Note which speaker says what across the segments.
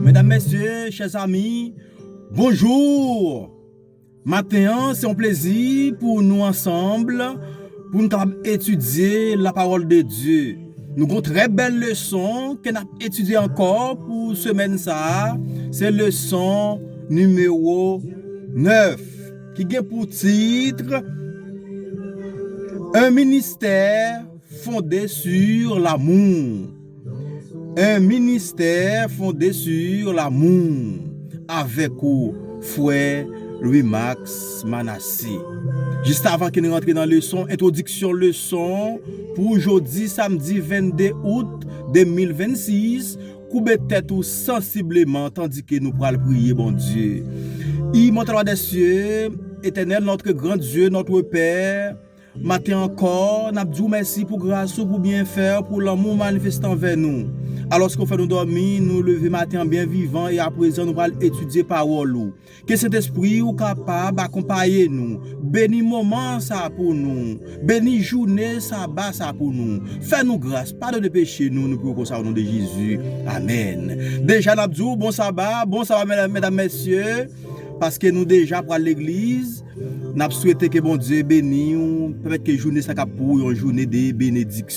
Speaker 1: Medam mesye chè zanmi bonjour maten an se yon plezi pou nou ansanm pou nou kapab etidye la pawòl de Dye nou gon trè bèl leson ke nap etidye ankò pou semèn sa a se leson nimewo 9. ki gen pou titr Un ministère fondé sur l'amour Un ministère fondé sur l'amour avèk ou frè Louis Max Manassé Jistavan ke n rantre nan leson entwodiksyon leson pou jodi samdi 22 out 2026 Koube tèt ou sansibleman tandike nou pral priye Bondye. Imòtèl Wa dèsye, Etènèl nòtre gran Dye, nòtre Pè, maten ankò, n ap di w mèsi pou gras ou, pou byenfè, pou lanmou w manifeste anvè nou. Alòske w fè nou dòmi, nou leve maten an byen vivan e aprezen nou pral etidye pawòl ou. Ke Sentespri ou kapab akonpaye nou, beni moman sa pou nou, beni joune saba sa pou nou, fè nou gras, padone peche nou, nou priye konsa o non de Jezi, amèn. Deja n ap di w bon saba, bon saba medam mesye, paske nou deja pral legliz, n ap swete ke Bondye beni w, pèmèt ke joune sa kap pou ou yon joune de benediksyon.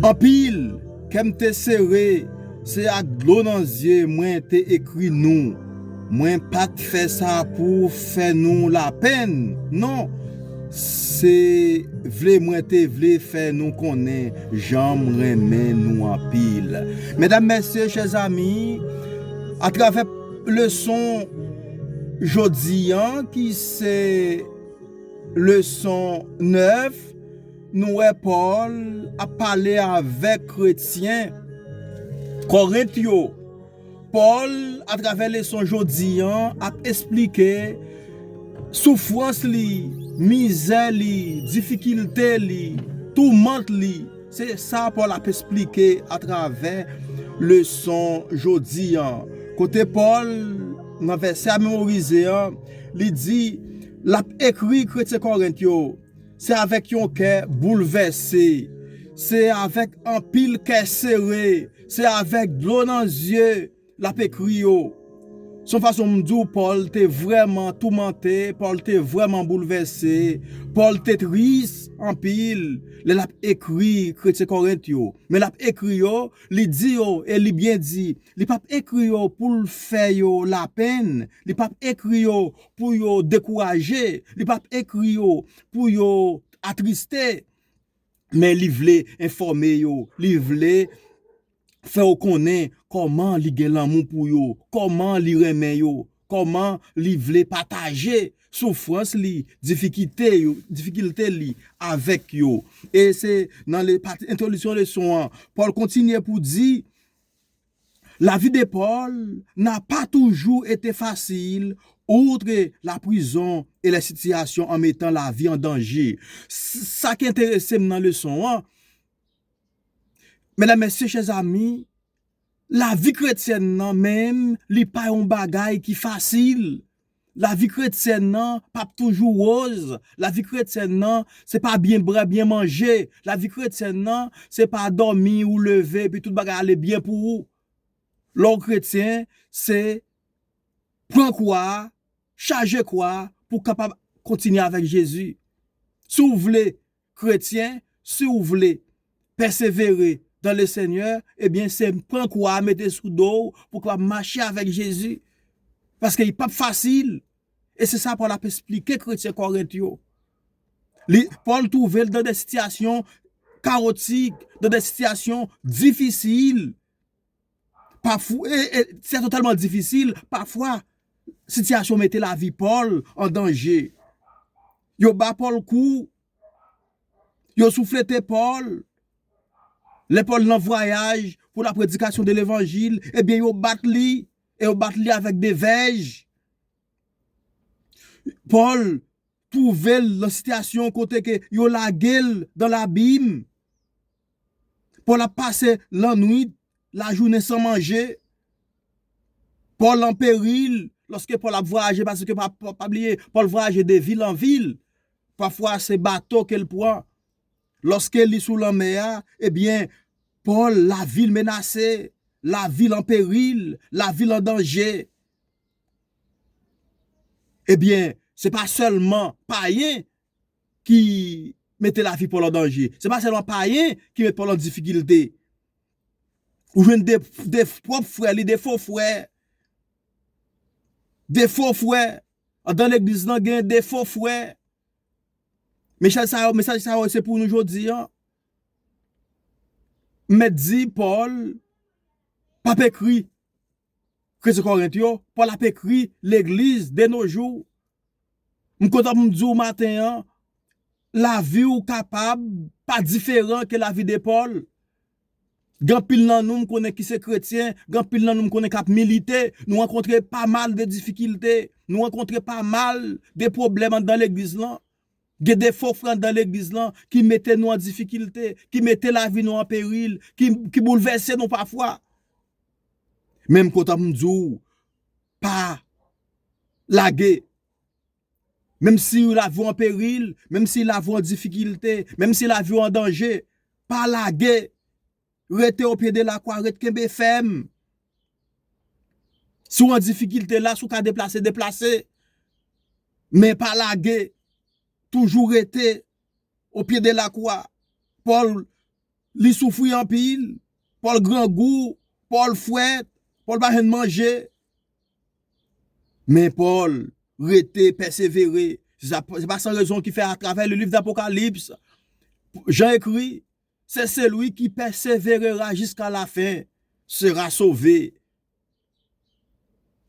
Speaker 1: Anpil, kè m te sere, se ak dlo nan zye mwen te ekri nou. Mwen pa t fè sa pou fè nou lapenn, non, se vle mwen te vle fè nou konnen jan m renmen nou anpil. Medam, mesye, chèzami, atravè leson jodi an ki se. Leson 9 Nou wè Pòl ap pale avèk kretyen Kòrent yo. Pòl atravè leson jodi an ap esplike soufrans li, mizè li, difikilte li, toumant li. Se sa Pòl ap esplike atravè leson jodi an. Kote Pòl nan vèsè a memorize an, li di. L ap ekri kretyen Kòrent yo, Se avèk yon kè boulvèse, se avèk anpil kè sere, se avèk dlo nan zye l ap ekri yo. Se yon fason m di w Pòl te vrèman toumante, Pòl te vrèman boulvèse, Pòl te tris anpil lè l ap ekri kretyen Kòrent yo. Men l ap ekri yo, li di yo, e li byen di, li pa p ekri yo pou l fè yo lapenn, li pa p ekri yo pou yo dekouraje, li pa ap ekri yo pou yo atriste, men li vle enfòme yo, li vle fè yo konnen kòman li gen lanmou pou yo, kòman li renmen yo, kòman li vle pataje soufrans li, difikilte li avèk yo. E se nan pati entwodiksyon leson an, Pòl kontinye pou di, La vie de Paul n'a pas toujours été facile outre la prison et les situations en mettant la vie en danger sa ki enteresem nan leson an Medam mesye chè zami la vie kretyèn nan menm li pa yon bagay ki fasil Lavi kretyèn nan p ap toujou woz, lavi kretyèn nan se pa byen bwè, byen manje, lavi kretyèn nan se pa dòmi ou leve epi tout bagay ale byen pou ou. Lè w kretyen, se pran kwa a, chaje kwa a pou w kapab kontinye avèk Jezi. Si w vle Kretyen, si w vle pèsevere dans le Seigneur, ebyen se pran kwa a mete sou do w pou w kapab mache avèk Jezi. Paske li pap fasil. E se sa Pòl ap esplike kretyen Kòrent yo. Li, Pòl twouve l dan de sitiyasyon kawotik, dan de sitiyasyon difisil. Sitiyasyon tèlman difisil, pafwa sitiyasyon mete lavi Pòl an danje. Yo ba Pòl kou, yo souflete Pòl, lè Pòl nan vwayaj pou la predikasyon de levanjil, ebyen yo bat li, e yo bat li avèk de vèj. Pòl Twouve l nan sitiyasyon kote ke yo lage l dan labim, Pòl ap pase lannwit, lajounen san manje, Pòl an peril, lòske Pòl ap vwayaje, paske pa bliye, Pòl vwayaje de vil an vil, pafwa se bato ke l pran, lòske li sou lanmè a, ebyen, Pòl, lavi l menase, lavi l an peril, lavi l an danje. Ebyen, se pa sèlman payen ki mete lavi Pòl an danje. Se pa sèlman payen ki met Pòl an difikilte. Ou jwenn de pwòp frè li, de fo frè. De fo frè. Andan legliz lan gen de fo frè. Mesaj sa yo se pou nou jodi an. M mèt di Pòl pa p ekri. Kretyen Kòrent yo, Pòl ap ekri legliz de no jou, M kontan pou m di w maten an, lavi w kapab pa diferan ke lavi de Pòl. Gen anpil nan nou m konnen ki se kretyen, gen anpil nan nou m konnen k ap milite, nou rankontre pa mal de difikilte, nou rankontre pa mal de pwoblèm anndan legliz lan, Gen de fo frè anndan legliz lan ki mete nou an difikilte, ki mete lavi nou an peril, ki boulvèse nou pafwa. Men m kontan pou m di w, pa lage. Menm si lavi w an peril, menm si lavi w an difikilte, menm si lavi w an danje, pa lage. Rete o pye de la kwa ret kenbe fèm Si w an difikilte la si w ka deplase deplase men pa lage toujou rete o pye de la kwa Pòl li soufri anpil Pòl grangou Pòl fwèt Pòl pa jwenn manje men Pòl rete pèsevere se pa san rezon ki fè atravè le liv dapokalips Jan ekri Se celui qui perseverera jiska la fin sera sove.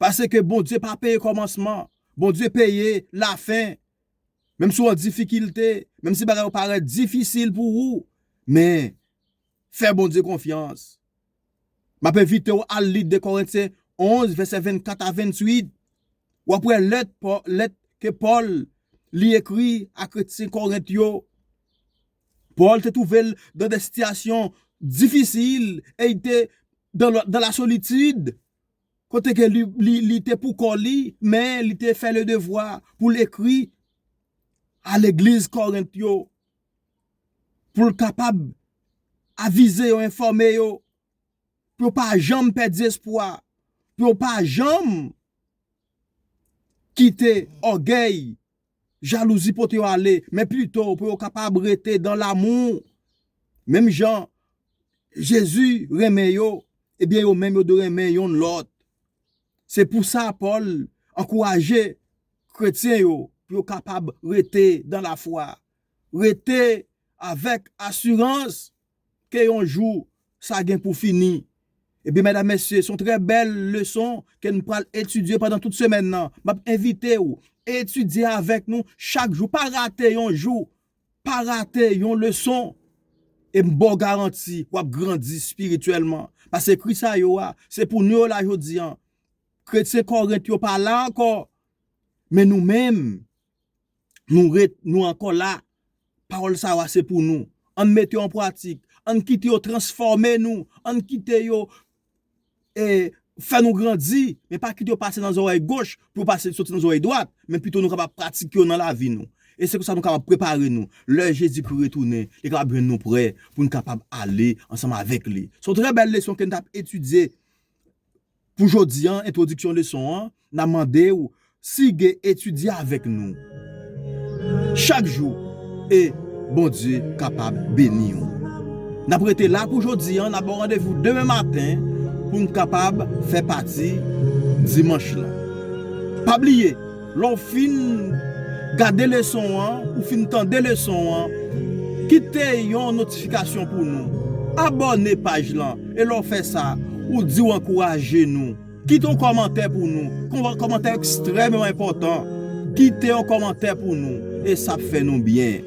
Speaker 1: Pase ke Bondye pa peye komansman, Bondye peye la fin. Menm si w an difikilte, menm si bagay yo parèt difisil pou ou, men fè Bondye konfyans. M ap envite w al li 2 Korentyen 11, vèsè 24 a 28. W ap wè lèt lèt ke Pòl li ekri a kretyen Korent yo. Pòl te twouve l dan de sitiyasyon difisil e li te dan la solitid, kote ke li te pou kò li, men li te fè le devwa pou l ekri a legliz Korent yo. pou l kapab avize yo, enfòme yo, pou yo pa janm pèdi espwa, pou yo pa janm kite ògèy, jalouzi pote yo ale, men pito pou yo kapab rete dan lamou, menm jan Jezi renmen yo, ebyen yo menm yo dwe renmen yonn lòt. Se pou sa Pòl ankouraje kretyen yo pou yo kapab rete dan lafwa, rete avèk asirans ke yon jou sa gen pou fini. Ebyen medam mesye, son trè bèl leson ke nou pral etidye pandan tout semèn nan. Map envite ou etidye avèk nou chak jou, pa rate yon jou, pa rate yon leson. E m baw garanti wap grandi spirityèlman. Pase ekri sa yo a, se pou nou yo la jodi an. Kretyen Kòrent yo pa la ankò, men nou menm. Nou ret, nou ankò la. Pawòl sa yo ase pou nou. Ann mete yo an pratik. Ann kite yo transfòme nou. Ann kite yo fè nou grandi. Men pa kite yo pase nan zòrèy goch pou yo pase soti nan zòrèy dwat. Men pito nou kapab pratike yo nan lavi nou. E se konsa nou kapab prepare nou. Lè Jezikri retounen, li kapab jwenn nou prè pou n kapab ale ansanm avèk li. Se yon trè bèl leson ke n t ap etidye. Pou jodi an, entwodiksyon leson an, nan mande ou sige etidye avèk nou chak jou e Bondye kapab beni ou. N ap rete la pou jodi an, n ap ba w randevou demen maten pou n kapab fè pati dimanch lan. Pa bliye! Lè w fin gade leson an, ou fin tande leson an, kite yon notifikasyon pou nou. Abòne paj lan, e lè w fè sa, ou di w ankouraje nou. Kite yon kòmantè pou nou. Kòmantè ekstrèmeman enpòtan. Kite yon kòmantè pou nou, e sa ap fè nou byen.